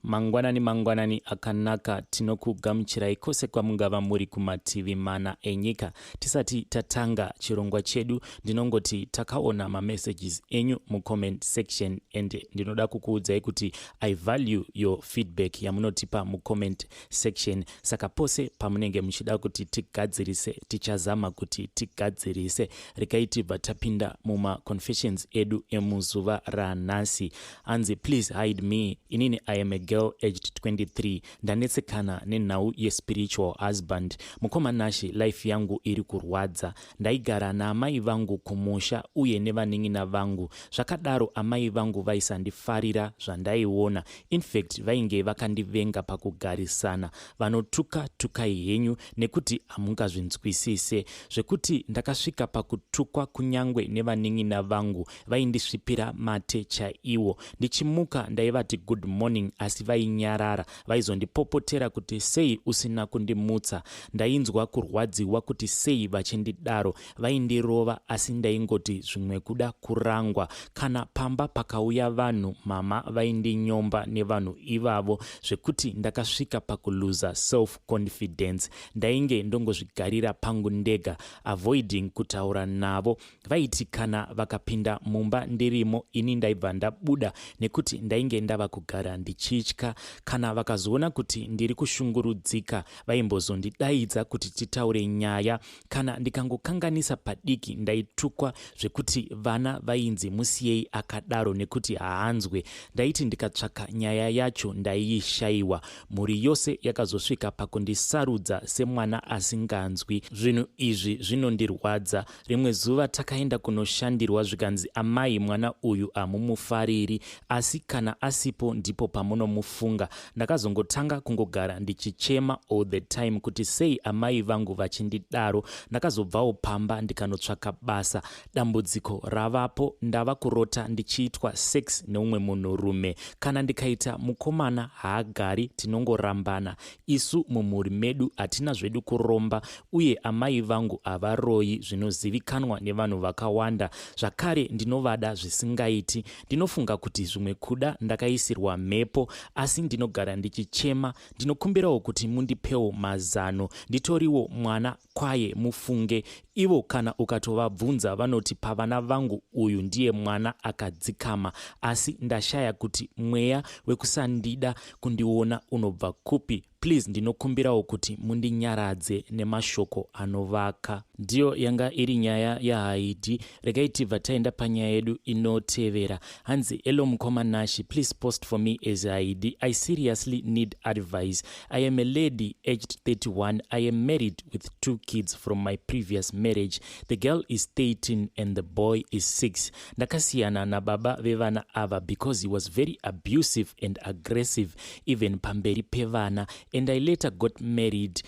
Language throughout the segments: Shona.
Mangwanani mangwanani akanaka tinokugamuchirai kose kwamungava muri kumativi mana enyika tisati tatanga chirongwa chedu ndinongoti takaona mamessages enyu mucomment section and ndinoda kukuudzai kuti i value your feedback yamunotipa mucomment section saka pose pamunenge muchida kuti tigadzirise tichazama kuti tigadzirise rekai tibva tapinda mumaconfessions edu emuzuva ranhasi hanzi please hide me inini i am a girl aged 23 ndanetsekana nenhau yespiritual husband mukoma nashe life yangu iri kurwadza ndaigara naamai vangu kumusha uye nevanin'ina vangu zvakadaro amai vangu vaisandifarira zvandaiona infact vainge vakandivenga pakugarisana vanotuka tukai henyu nekuti hamungazvinzwisise zvekuti ndakasvika pakutukwa kunyange nevanin'ina vangu vaindisvipira mate chaiwo ndichimuka ndaivati good morning asi vainyarara vaizondipopotera kuti sei usina kundimutsa ndainzwa kurwadziwa kuti sei vachindidaro vaindirova asi ndaingoti zvimwe kuda kurangwa kana pamba pakauya vanhu mama vaindinyomba nevanhu ivavo zvekuti ndakasvika pakuluza self confidence ndainge ndongozvigarira pangu ndega avoiding kutaura navo vaiti kana vakapinda mumba ndirimo ini ndaibva ndabuda nekuti ndainge ndava kugara ndichitya kana vakazoona kuti ndiri kushungurudzika vaimbozondidaidza kuti titaure nyaya kana ndikangokanganisa padiki ndaitukwa zvekuti vana vainzi musiyei akadaro nekuti haanzwe ndaiti ndikatsvaka nyaya yacho ndaiishayiwa mhuri yose yakazosvika pakundisarudza semwana asinganzwi zvinhu izvi zvinondirwadza Rimwe zuva takaenda kunoshandirwa zvikanzi amai mwana uyu hamumufariri asi kana asipo ndipo pamunomufunga. Ndakazongotanga kungogara ndichichema all the time kuti sei amai vangu vachindidaro. Ndakazobvawo pamba ndikanotsvaka basa. Dambudziko ravapo ndava kurota ndichiitwa sex neumwe munhurume. Kana ndikaita mukomana haagari tinongorambana. Isu mumhuri medu hatina zvedu kuromba uye amai vangu havaroyi zvinozivikanwa nevanhu vakawanda. Zvakare ndinovada zvisingaiti. Ndinofunga kuti zvimwe kuda ndakaisirwa mhepo asi ndinogara ndichichema. Ndinokumbirawo kuti mundipewo mazano. Nditoriwo mwana kwaye mufunge ivo kana ukatovabvunza vanoti pavana vangu uyu ndiye mwana akadzikama asi ndashaya kuti mweya wekusandida kundiona unobva kupi please ndinokumbirawo kuti mundinyaradze nemashoko anovaka ndiyo yanga iri nyaya yahaidi regai tibva taenda panyaya yedu inotevera hanzi elo mukoma nashi please post for me as id i seriously need advice i am a lady aged 31 i am married with two kids from my previous marriage the girl is 13 and the boy is 6 ndakasiyana nababa vevana ava because he was very abusive and aggressive even pamberi pevana and i later got married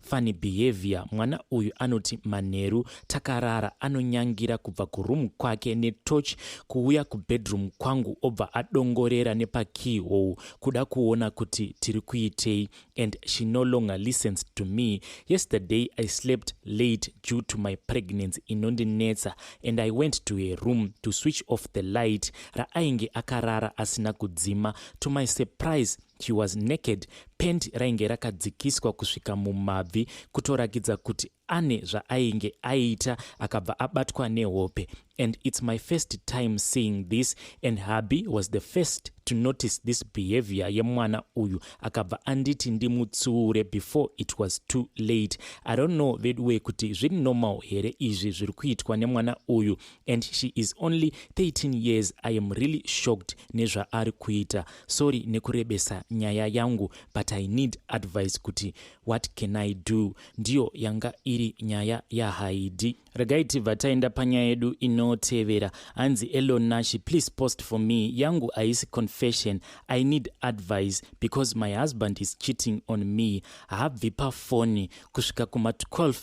Funny behavior mwana uyu anoti manheru takarara anonyangira kubva kuroom kwake netoch kuuya kubedroom kwangu obva adongorera nepakey hole kuda kuona kuti tiri kuitei and she no longer listens to me yesterday i slept late due to my pregnancy inondinetsa and i went to her room to switch off the light raainge akarara asina kudzima to my surprise She was naked, pant rainge rakadzikiswa kusvika mumabvi kutorakidza kuti ane zvaainge aita akabva abatwa nehope and it's my first time seeing this and hubby was the first to notice this behavior yemwana uyu akabva anditi ndimutsuure before it was too late i don't know veduwe kuti zviri normal here izvi zviri kuitwa nemwana uyu and she is only 13 years i am really shocked nezvaari kuita Sorry nekurebesa nyaya yangu but I need advice kuti what can I do. Ndiyo yanga iri nyaya yaHaidi. Regai tibva taenda panyaya yedu inotevera. Hanzi Elon Nashi please post for me. Yangu haisi confession. I need advice because my husband is cheating on me. Haabvi pafoni kusvika kuma 12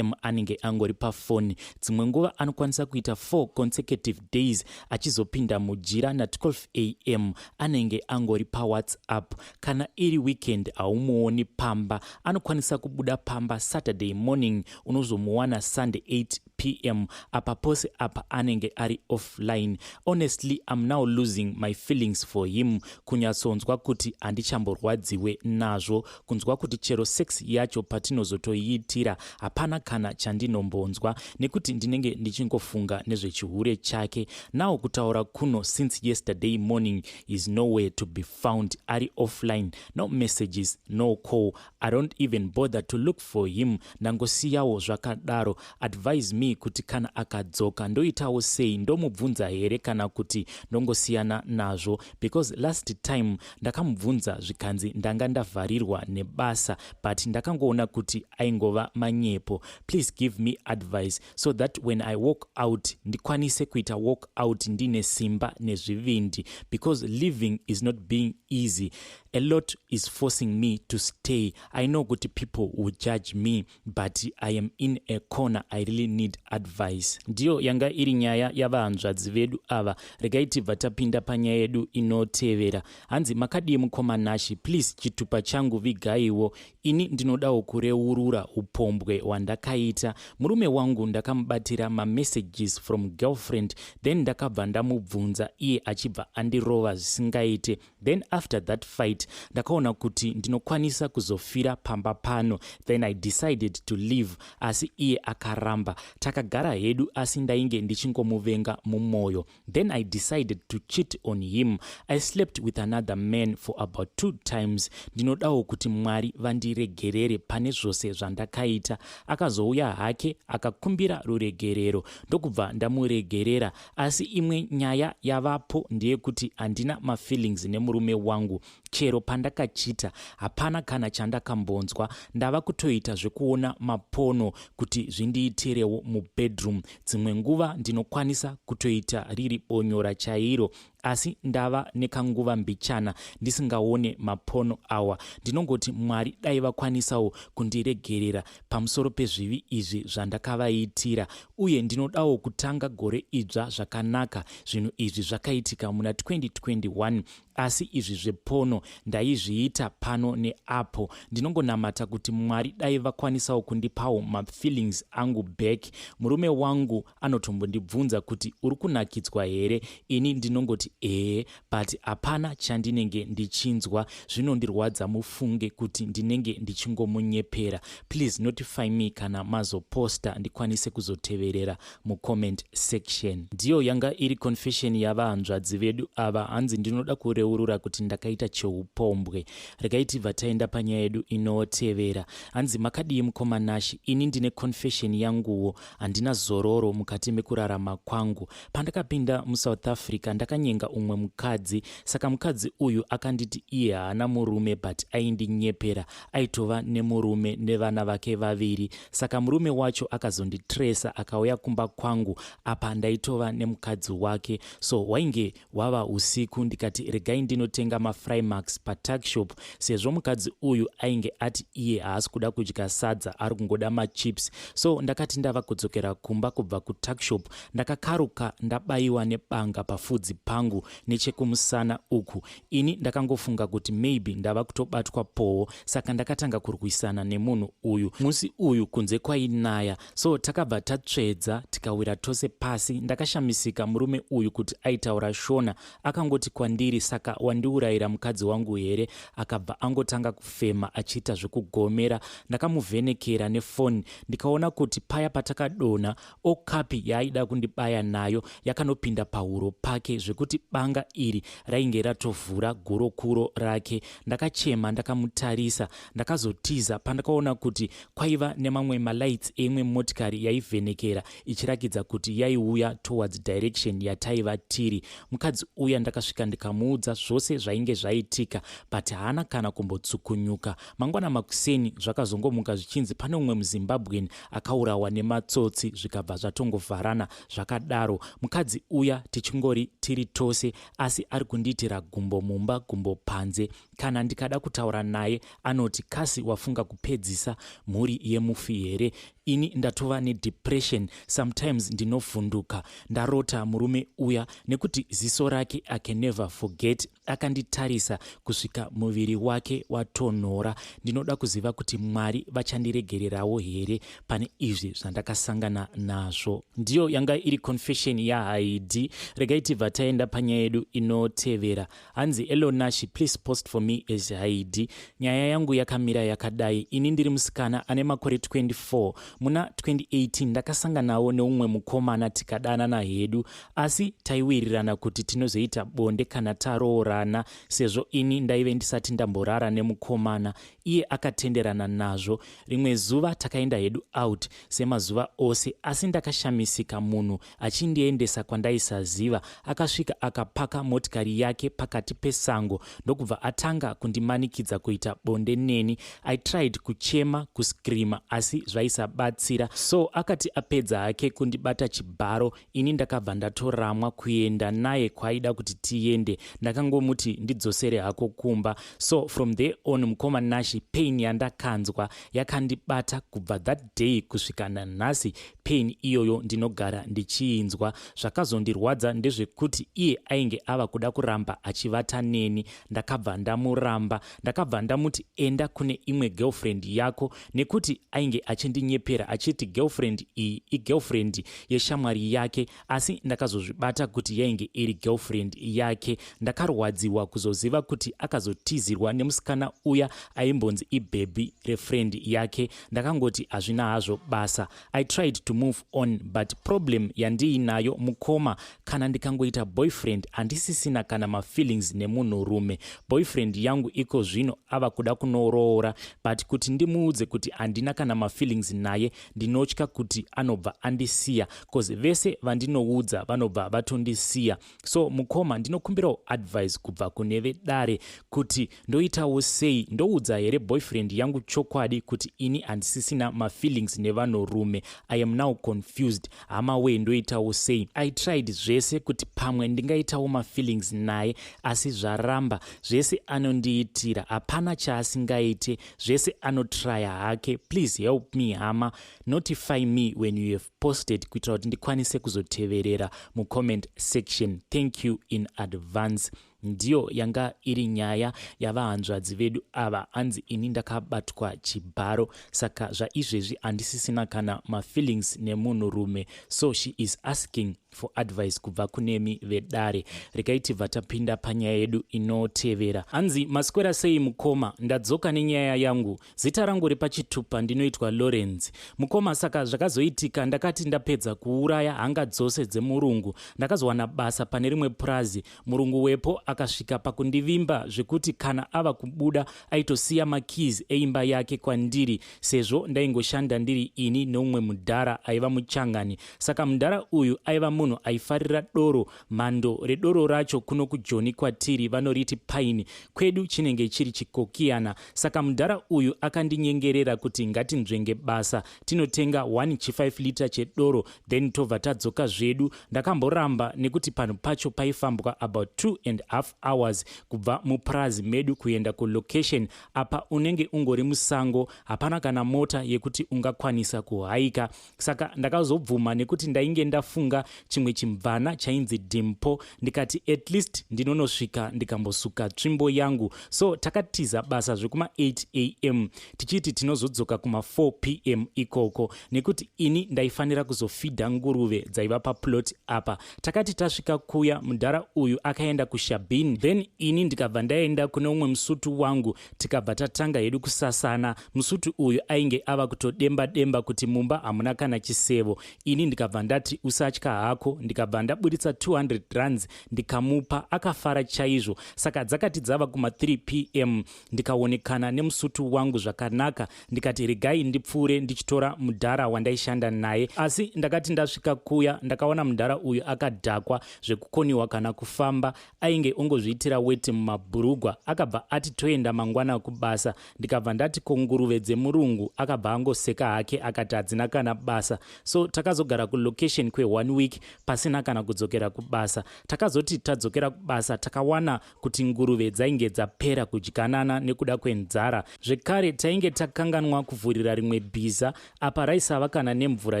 am anenge angori pafoni dzimwe nguva anokwanisa kuita 4 consecutive days achizopinda mujira na12 am anenge angori pawhatsapp kana iri weekend haumuoni pamba anokwanisa kubuda pamba saturday morning unozomuwana sunday 8 pm apa pose apa anenge ari offline honestly am now losing my feelings for him kunyatsonzwa kuti handichamborwadziwe nazvo kunzwa kuti chero sex yacho patinozotoiitira hapana kana chandinombonzwa nekuti ndinenge ndichingofunga nezvechihure chake now kutaura kuno since yesterday morning is nowhere to be found ari offline no messages no call i don't even bother to look for him ndangosiyawo zvakadaro advise me kuti kana akadzoka ndoitawo sei ndomubvunza here kana kuti ndongosiyana nazvo because last time Ndakamubvunza zvikanzi ndanga ndavharirwa nebasa but ndakangoona kuti aingova manyepo. Please give me advice so that when I walk out ndikwanise kuita walk out ndine simba nezvivindi because living is not being easy. A lot is forcing me to stay. I know kuti people will judge me but i am in a corner i really need advice ndiyo yanga iri nyaya yavahanzvadzi vedu ava regai tibva tapinda panyaya yedu inotevera hanzi makadii mukoma nashi please chitupa changu vigaiwo ini ndinodawo kureurura upombwe hwandakaita murume wangu ndakamubatira mamessages from girlfriend then ndakabva ndamubvunza iye achibva andirova zvisingaite then after that fight ndakaona kuti ndinokwanisa kuzofira pamba pano then i decided to leave asi iye akaramba takagara hedu asi ndainge ndichingomuvenga mumwoyo then i decided to cheat on him i slept with another man for about two times ndinodawo kuti mwari vandiregerere pane zvose zvandakaita akazouya hake akakumbira ruregerero ndokubva ndamuregerera Asi imwe nyaya yavapo ndeyekuti handina mafeelings nemurume wangu. Chero pandakachita hapana kana chandakambonzwa. Ndava kutoita zvekuona mapono kuti zvindiitirewo mubedroom. Dzimwe nguva ndinokwanisa kutoita riri bonyora chairo asi ndava nekanguva mbichana ndisingaone mapono awa. Ndinongoti Mwari dai vakwanisawo kundiregerera pamusoro pezvivi izvi zvandakavaitira, uye ndinodawo kutanga gore idzva zvakanaka. Zvinhu izvi zvakaitika muna 2021, asi izvi zvepono ndaizviita pano neapo. Ndinongonamata kuti Mwari dai vakwanisawo kundipawo mafeelings angu back. Murume wangu anotombondibvunza kuti uri kunakidzwa here, ini ndinongoti ehe, but hapana chandinenge ndichinzwa zvinondirwadza mufunge kuti ndinenge ndichingomunyepera please notify me kana mazoposta ndikwanise kuzoteverera mucomment section ndiyo yanga iri confession yavahanzvadzi vedu ava hanzi ndinoda kureurura kuti ndakaita cheupombwe regai tibva taenda panyaya yedu inotevera hanzi makadii mukoma nashi ini ndine confession yanguwo Handina zororo mukati mekurarama kwangu. Pandakapinda muSouth Africa ndakanyenga umwe mukadzi saka mukadzi uyu akanditi iye haana murume but aindinyepera. Aitova nemurume nevana vake vaviri saka murume wacho akazonditresa akauya kumba kwangu apa ndaitova nemukadzi wake so wainge Hwava usiku ndikati regai ndinotenga mafrymax patuckshop sezvo mukadzi uyu ainge ati iye haasi kuda kudya sadza ari kungoda machips so ndakati ndava kudzokera kumba kubva kutuckshop ndakakaruka ndabayiwa nebanga pafudzi pangu nechekumusana uku ini ndakangofunga kuti maybe ndava kutobatwa powo saka ndakatanga kurwisana nemunhu uyu musi uyu kunze kwainaya so takabva tatsvedza tikawira tose pasi ndakashamisika murume uyu kuti aitaura shona akangoti kwandiri saka wandiurayira mukadzi wangu here akabva angotanga kufema achiita zvekugomera ndakamuvhenekera nefoni ndikaona kuti paya patakadona okapi yaaida kundibaya nayo yakanopinda pahuro pake zvekuti banga iri rainge ratovhura gurokuro rake ndakachema ndakamutarisa ndakazotiza pandakaona kuti Kwaiva nemamwe malights eimwe motikari yaivhenekera ichirakidza kuti yaiuya towards direction yataiva tiri. Mukadzi uya ndakasvika ndikamuudza zvose zvainge zvaitika but haana kana kumbotsukunyuka. Mangwana makuseni zvakazongomuka zvichinzi pane umwe muZimbabwean akaurawa nematsotsi zvikabva zvatongovharana zvakadaro. Mukadzi uya tichingori tiri tose asi ari kundiitira gumbo mumba gumbo panze Kana ndikada kutaura naye anoti kasi wafunga kupedzisa mhuri yemufi here? Ini ndatova nedepression sometimes ndinovhunduka. Ndarota murume uya nekuti ziso rake I can never forget akanditarisa kusvika muviri wake watonhora. Ndinoda kuziva kuti Mwari vachandiregererawo here pane izvi zvandakasangana nazvo. Ndiyo yanga iri confession yaHaidi. Regai tibva taenda panyaya yedu inotevera. Hanzi Elonashi please post for me as Haidi. Nyaya yangu yakamira yakadai. Ini ndiri musikana ane makore 24. Muna 2018 ndakasanganawo neumwe mukomana tikadanana hedu asi taiwirirana kuti tinozoita bonde kana taroorana sezvo ini ndaive ndisati ndamborara nemukomana. Iye akatenderana nazvo. Rimwe zuva takaenda hedu out semazuva ose asi ndakashamisika munhu achindiendesa kwandaisaziva. Akasvika akapaka motikari yake pakati pesango ndokubva atanga kundimanikidza kuita bonde neni. I tried kuchema, kuscreama asi zvaisabatsira. So akati apedza hake kundibata chibharo ini ndakabva ndatoramwa kuenda naye kwaida kuti tiende. Ndakangomuti ndidzosere hako kumba. So from there on mukoma Nashi pain yandakanzwa yakandibata kubva that day kusvika nanhasi pain iyoyo ndinogara ndichiinzwa zvakazondirwadza ndezvekuti iye ainge ava kuda kuramba achivata neni ndakabva ndamuramba ndakabva ndamuti enda kune imwe girlfriend yako nekuti ainge achindinyepera achiti girlfriend iyi igirlfriend yeshamwari yake asi ndakazozvibata kuti yainge iri girlfriend yake ndakarwadziwa kuzoziva kuti akazotizirwa nemusikana uya aimbonzi ibhebhi refriend yake ndakangoti hazvina hazvo basa i tried to move on but problem yandiinayo mukoma kana ndikangoita boyfriend handisisina kana mafeelings nemunhurume boyfriend yangu iko zvino ava kuda kunoroora but kuti ndimuudze kuti handina kana mafeelings naye ndinotya kuti anobva andisiya cause vese vandinoudza vanobva vatondisiya so mukoma ndinokumbirawo advice kubva kune vedare kuti ndoitawo sei ndoudza here boyfriend yangu chokwadi kuti ini handisisina mafeelings nevanorume i am now confused hama wee ndoitawo sei i tried zvese kuti pamwe ndingaitawo mafeelings naye asi zvaramba zvese anondiitira hapana chaasingaite zvese anotraya hake please help me hama notify me when you have posted kuitira kuti ndikwanise kuzoteverera mucomment section thank you in advance ndiyo yanga iri nyaya yavahanzvadzi vedu ava hanzi ini ndakabatwa chibharo saka zvaizvezvi handisisina kana mafeelings nemunhurume so she is asking for advice kubva kunemi vedare regai tibva tapinda panyaya yedu inotevera hanzi maswera sei mukoma ndadzoka nenyaya yangu zita rangu repachitupa ndinoitwa lawrence mukoma saka zvakazoitika ndakati ndapedza kuuraya hanga dzose dzemurungu ndakazowana basa pane rimwe purazi Murungu wepo akasvika pakundivimba zvekuti kana ava kubuda aitosiya makeys eimba yake kwandiri sezvo ndaingoshanda ndiri ini neumwe mudhara aiva muchangani. Saka mudhara uyu aiva munhu aifarira doro. Mhando redoro racho kuno kujoni kwatiri vanoriti paini, kwedu chinenge chiri chikokiyana. Saka mudhara uyu akandinyengerera kuti ngatinzvenge basa tinotenga 1 chi 5 liter chedoro then tobva tadzoka zvedu ndakamboramba nekuti panhu pacho paifambwa about 2 and half hours kubva mupurazi medu kuenda kulocation apa unenge ungori musango hapana kana mota yekuti ungakwanisa kuhaika saka ndakazobvuma nekuti ndainge ndafunga chimwe chimvana chainzi dimpo ndikati at least ndinonosvika ndikambosuka tsvimbo yangu so takatiza basa zvekuma 8 am tichiti tinozodzoka kuma4 pm ikoko nekuti ini ndaifanira kuzofidha nguruve dzaiva paplot apa takati tasvika kuya mudhara uyu akaenda kushabin then ini ndikabva ndaenda kune umwe musutu wangu tikabva tatanga hedu kusasana musutu uyu ainge ava kutodemba demba kuti mumba hamuna kana chisevo ini ndikabva ndati usatya hako ndikabva ndaburitsa 200 runs ndikamupa akafara chaizvo saka dzakati dzava kuma3 pm ndikaonekana nemusutu wangu zvakanaka ndikati regai ndipfuure ndichitora mudhara wandaishanda naye asi ndakati ndasvika kuya ndakaona mudhara uyu akadhakwa zvekukoniwa kana kufamba ainge ongozviitira weti mumabhurugwa akabva ati toenda mangwana kubasa ndikabva ndati ko nguruve dzemurungu akabva angoseka hake akati hadzina kana basa so takazogara kulocation kweone week pasina kana kudzokera kubasa takazoti tadzokera kubasa takawana kuti nguruve dzainge dzapera kudyanana nekuda kwenzara zvekare tainge takanganwa kuvhurira rimwe bhiza apa raisava kana nemvura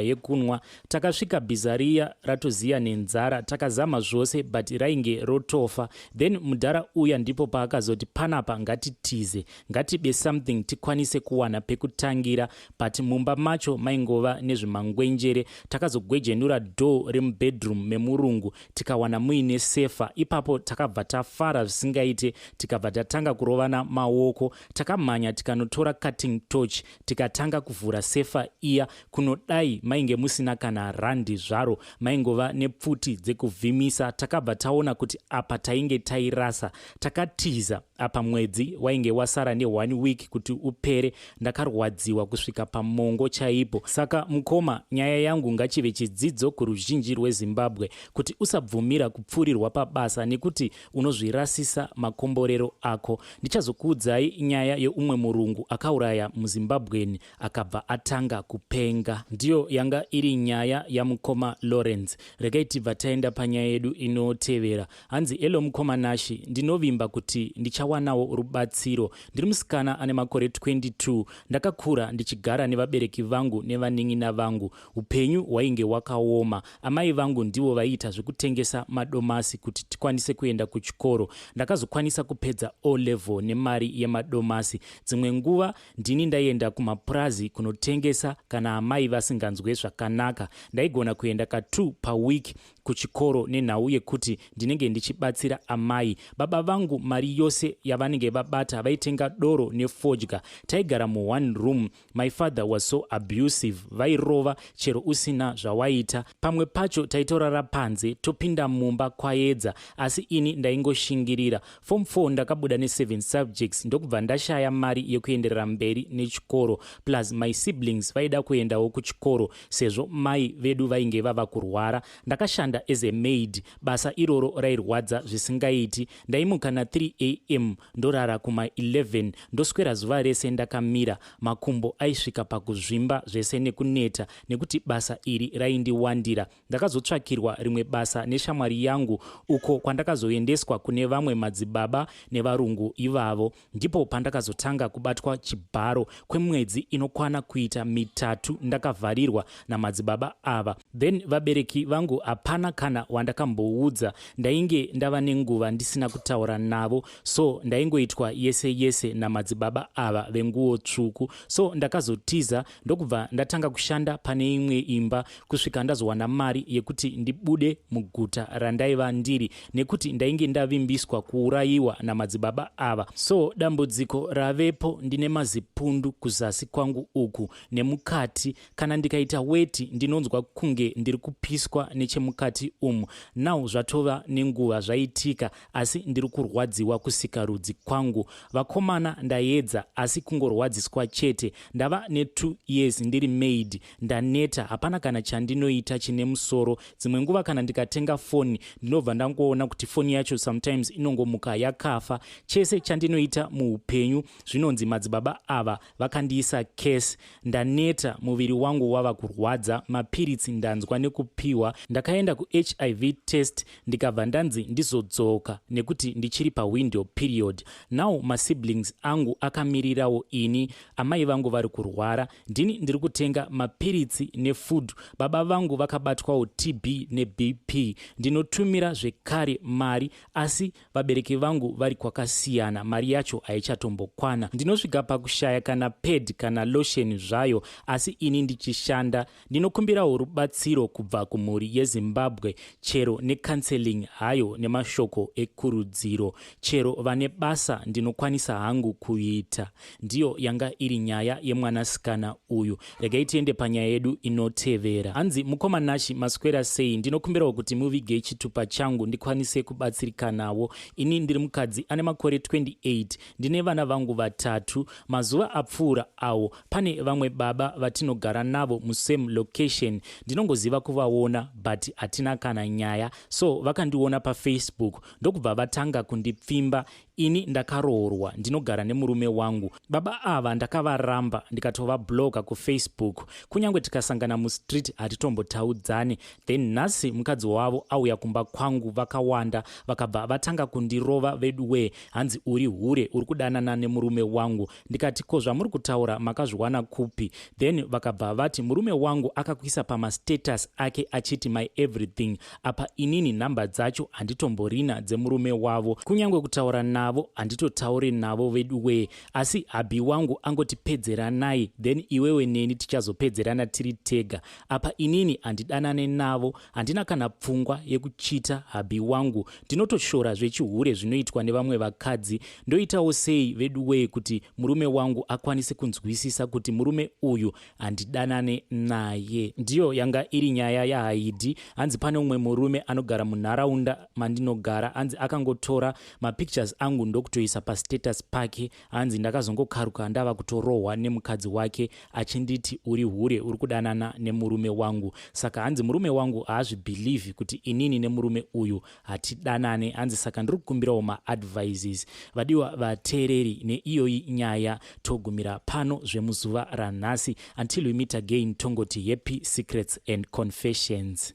yekunwa takasvika bhiza riya ratoziya nenzara takazama zvose but rainge rotofa then mudhara uya ndipo paakazoti panapa ngatitize ngatibe something tikwanise kuwana pekutangira but mumba macho maingova nezvimangwenjere takazogwejenura door remubedroom memurungu tikawana muine sefa ipapo takabva tafara zvisingaite tikabva tatanga kurovana maoko takamhanya tikanotora cutting torch tikatanga kuvhura sefa iya kunodai mainge musina kana randi zvaro maingova nepfuti dzekuvhimisa takabva taona kuti apa tainge tairasa takatiza apa mwedzi wainge wasara neone week kuti upere ndakarwadziwa kusvika pamongo chaipo saka mukoma nyaya yangu ngachive chidzidzo kuruzhinji rwezimbabwe kuti usabvumira kupfurirwa pabasa nekuti unozvirasisa makomborero ako ndichazokuudzai nyaya yeumwe murungu akauraya muzimbabweni akabva atanga kupenga ndiyo yanga iri nyaya yamukoma lawrence regai tibva taenda panyaya yedu inotevera Hanzi hello mukoma Nashi ndinovimba kuti ndichawanawo rubatsiro. Ndiri musikana ane makore 22 ndakakura ndichigara nevabereki vangu nevanin'ina vangu. Upenyu hwainge wakaoma. Amai vangu ndivo vaiita zvekutengesa madomasi kuti tikwanise kuenda kuchikoro. Ndakazokwanisa kupedza O level nemari yemadomasi. Dzimwe nguva ndini ndaienda kumapurazi kunotengesa kana amai vasinganzwe zvakanaka. Ndaigona kuenda ka two paweek kuchikoro nenhau yekuti ndinenge ndichibatsira amai baba vangu mari yose yavanenge vabata vaitenga doro nefodya taigara muone room my father was so abusive vairova chero usina zvawaita pamwe pacho taitorara panze topinda mumba kwaedza asi ini ndaingoshingirira form 4 ndakabuda ne7 subjects ndokubva ndashaya mari yekuenderera mberi nechikoro plus my siblings vaida kuendawo kuchikoro Sezvo mai vedu vainge vava kurwara, ndakashanda as a maid, basa iroro rairwadza zvisingaiti. Ndaimuka na 3 am ndorara kuma 11 ndoswera zuva rese ndakamira, makumbo aisvika pakuzvimba zvese nekuneta nekuti basa iri raindiwandira. Ndakazotsvakirwa rimwe basa neshamwari yangu uko kwandakazoendeswa kune vamwe madzibaba nevarungu ivavo. Ndipo pandakazotanga kubatwa chibharo kwemwedzi inokwana kuita mitatu ndakavharirwa namadzibaba ava. Then vabereki vangu hapana kana wandakamboudza, ndainge ndava nenguva ndisina kutaura navo so ndaingoitwa yese yese namadzibaba ava venguwo tsvuku. So ndakazotiza ndokubva ndatanga kushanda pane imwe imba kusvika ndazowana mari yekuti ndibude muguta randaiva ndiri nekuti ndainge ndavimbiswa kuurayiwa namadzibaba ava so dambudziko ravepo ndine mazipundu kuzasi kwangu uku nemukati kana ndikaita weti ndinonzwa kunge ndiri kupiswa nechemukati umu now zvatova nenguva zvaitika asi ndiri kurwadziwa kusikarudzi kwangu vakomana ndayedza asi kungorwadziswa chete ndava netwo years ndiri maid ndaneta hapana kana chandinoita chine musoro dzimwe nguva kana ndikatenga foni ndinobva ndangoona kuti foni yacho sometimes inongomuka yakafa chese chandinoita muupenyu zvinonzi madzibaba ava Vakandiisa case ndaneta muviri wangu wava kurwadza mapiritsi ndanzwa nekupiwa ndakaenda kuHIV test ndikabva ndanzi ndizodzoka nekuti ndichiri pawindow period now masiblings angu akamirirawo ini amai vangu vari kurwara ndini ndiri kutenga mapiritsi nefood baba vangu vakabatwawo TB neBP ndinotumira zvekare mari asi vabereki vangu vari kwakasiyana mari yacho haichatombokwana ndinosvika pakushaya kana pad kana lotion zvayo asi ini ndichishanda ndinokumbirawo rubatsiro kubva kumhuri yezimbabwe chero necounseling hayo nemashoko ekurudziro chero vane basa ndinokwanisa hangu kuita Ndiyo yanga iri nyaya yemwanasikana uyu. Regai tiende panyaya yedu inotevera. Hanzi mukoma Nashi maswera sei? Ndinokumbirawo kuti muvige chitupa changu ndikwanise kubatsirikanawo. Ini ndiri mukadzi ane makore 28. Ndine vana vangu vatatu. Mazuva apfuura awo pane vamwe baba vatinogara navo musame location. Ndinongoziva kuvaona but hatina kana nyaya. So vakandiona pafacebook ndokubva vatanga kundipfimba. Ini ndakaroorwa ndinogara nemurume wangu. Baba ava ndakavaramba ndikatovabloga kufacebook. Kunyange tikasangana mustreet hatitombotaudzani. Then nhasi mukadzi wavo auya kumba kwangu vakawanda vakabva vatanga kundirova veduwee hanzi uri hure uri kudanana nemurume wangu. ndikati ko zvamuri kutaura makazviwana kupi then vakabva vati murume wangu akakuisa pamastatus ake achiti my everything apa inini nhamba dzacho handitomborina dzemurume wavo kunyange kutaura navo handitotaure navo vedu wee asi habhi wangu angotipedzeranai then iwewe neni tichazopedzerana tiri tega apa inini handidanane navo handina kana pfungwa yekuchita habhi wangu Tinotoshora zvechihure zvinoitwa nevamwe vakadzi. Ndoitawo sei veduwee kuti murume wangu akwanise kunzwisisa kuti murume uyu handidanane naye? Ndiyo yanga iri nyaya yaHaidhi. Hanzi pane umwe murume anogara munharaunda mandinogara, hanzi akangotora mapictures angu ndokutoisa pastatus pake hanzi ndakazongokaruka ndava kutorohwa nemukadzi wake achinditi uri hure uri kudanana nemurume wangu saka hanzi murume wangu haazvibhilivhi kuti inini nemurume uyu hatidanane hanzi saka ndiri kukumbirawo maadvises vadiwa vateereri neiyoyi nyaya togumira pano zvemuzuva ranhasi until we meet again tongoti happy secrets and confessions